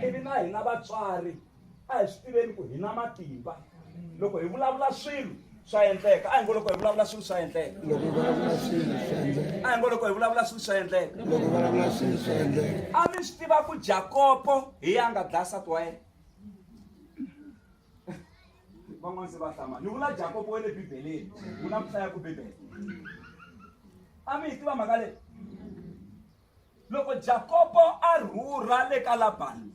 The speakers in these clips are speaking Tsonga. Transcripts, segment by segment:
ivi na hina vatswari a hi swi tiveni ku hi na matimba loko hi vulavula swilo swa endleka a hi ngo loko hi vulavula swilo swa endleka a hi ngo loko hi vulavula swilo swa endleka a mi swi tiva ku jakopo hi ya nga dlaya sati wa yena van'wana se va hlama ni vula jakopo wa le bibeleni wu na ku hlaya ku bibele a mi hi tiva mhaka leyi loko jakobo a rhurha le ka labani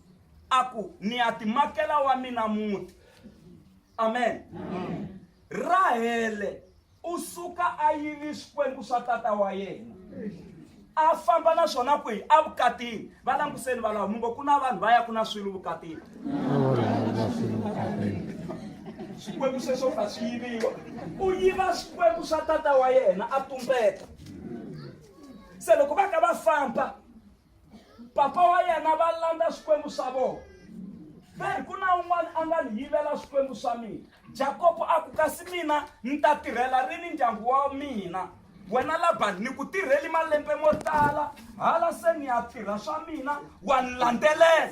a ku ni ya timakela wa mina muti amen rahele u suka a yini swikwembu swa tata wa yena a famba na swona kwihi evukatini va languseni valawu mi ngo ku na vanhu va ya ku na swilo vukatini swikwembu sweswo ka swi yiviwa u yiva swikwembu swa tata wa yena a tumbeta se loko va ka va famba papa wa yena va landza swikwembu swa vona veri ku na un'wana a nga ni yivela swikwembu swa mina jakobo a ku kasi mina ni ta tirhela rini ndyangu wa mina wena labani ni ku tirheli malembe mo tala hala se ni ya tirha swa mina wa ni landzelela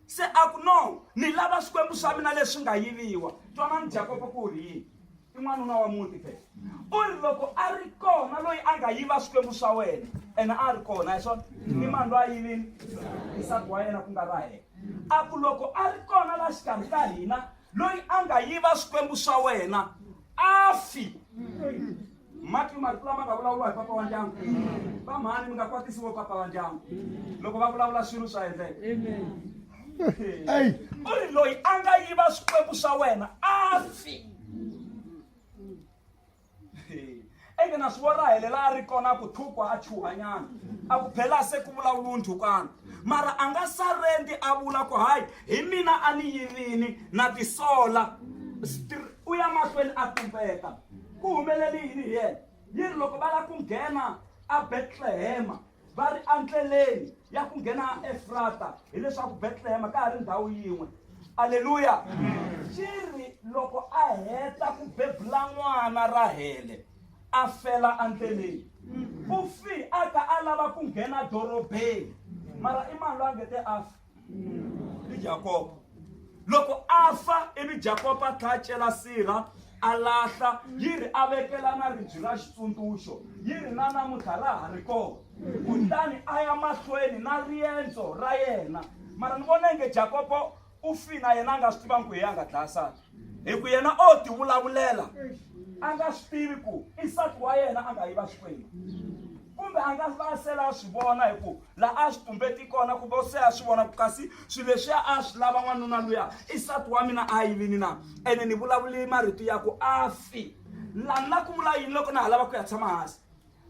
Se a ku, No, ni lava swikwembu swa mina leswi nga yiviwa. Twanani, Jakopo ku ri yini? I n'wanuna wa muti phela. U ri, Loko a ri kona loyi a nga yiva swikwembu swa wena, ene a ri kona, a hi swona? I mani loyi a yivini? Nsati wa yena ku nga Rahele. A ku, Loko a ri kona la xikarhi ka hina loyi a nga yiva swikwembu swa wena, a fi. mati marito lama nga vulavuriwa hi papa wa ndyangu va mhani mi nga kwatisiwo papa wa ndyangu loko va vulavula swilo swa endleke u ri loyi a nga yiva swikwembu swa wena a fi eke na swi vona helela a ri kona ku thukwa a chuhanyana a ku phela se ku vulavula ndhukwana mara a nga sarendi a vula ku hayi hi mina a ni yivini na tisola u ya mahlweni a tumbeta Ku humelele yini hi yena? Yi ri loko va lava ku nghena aBetlehema va ri endleleni ya ku nghena aEfrata, hileswaku Betlehema ka ha ri ndhawu yin'we. Aleluya! Xi ri loko a heta ku bebula n'wana Rahele a fela endleleni, u fi a kha a lava ku nghena dorobeni, mara i mani loyi a nge te a fa? ni jakoba loko a fa ivi jakoba a tlha a cela sirha a lahla yi ri a vekela na ribyi ra xitsundzuxo yi ri na namuntlha ra ha ri kona kutani a ya mahlweni na riendzo ra yena mara ni vona inge jakobo u fina yena a nga swi tivangi ku hi a nga dlaya sani hi ku yena o ti vulavulela a nga swi tivi ku i nsati wa yena a nga yi va xikwembu kumbe a nga va sela a swi vona hi ku laha a swi tumbeti kona kumbe se a swi vona ku kasi swilo leswiya a swi lava n'wanuna luya i nsati wa mina a yilini na ene ni vulavuli marito ya ku a fi lani na ku vula yini loko na ha lava ku ya tshama hansi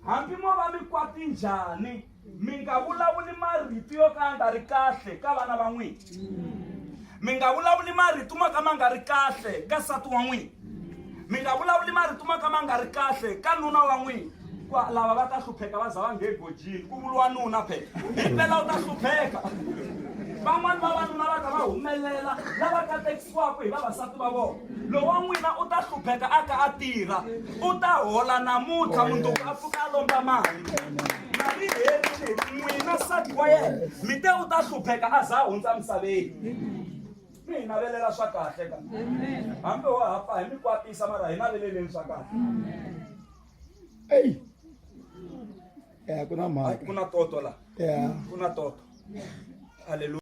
Hambi mo va mi kwati njhani, mi nga vulavuli marito yo ka ya nga ri kahle ka vana va n'wina. Mi nga vulavuli marito mo ka ma nga ri kahle ka nsati wa n'wina. Mi nga vulavuli marito mo ka ma nga ri kahle ka nuna wa n'wina. Kwa lava va ta hlupheka va za va nge gojini ku vuriwa nuna phela. Himpela u ta hlupheka. Van'wani vavanuna va ta va humelela lava ka hinkwako hi vavasati va vona lowa n'wina u ta hlupheka a ka a tirha u ta hola namuntlha mundzuku a pfuka a lomba mali mali herile n'wina sati wa yena mi te u ta hlupheka a za a hundza misaveni mi hi navelela swa kahle ka hambi wa ha pfa hi mi kwatisa mara hi naveleleni swa kahle eyi ya ku na mhaka ku na toto la ya ku na toto halleluya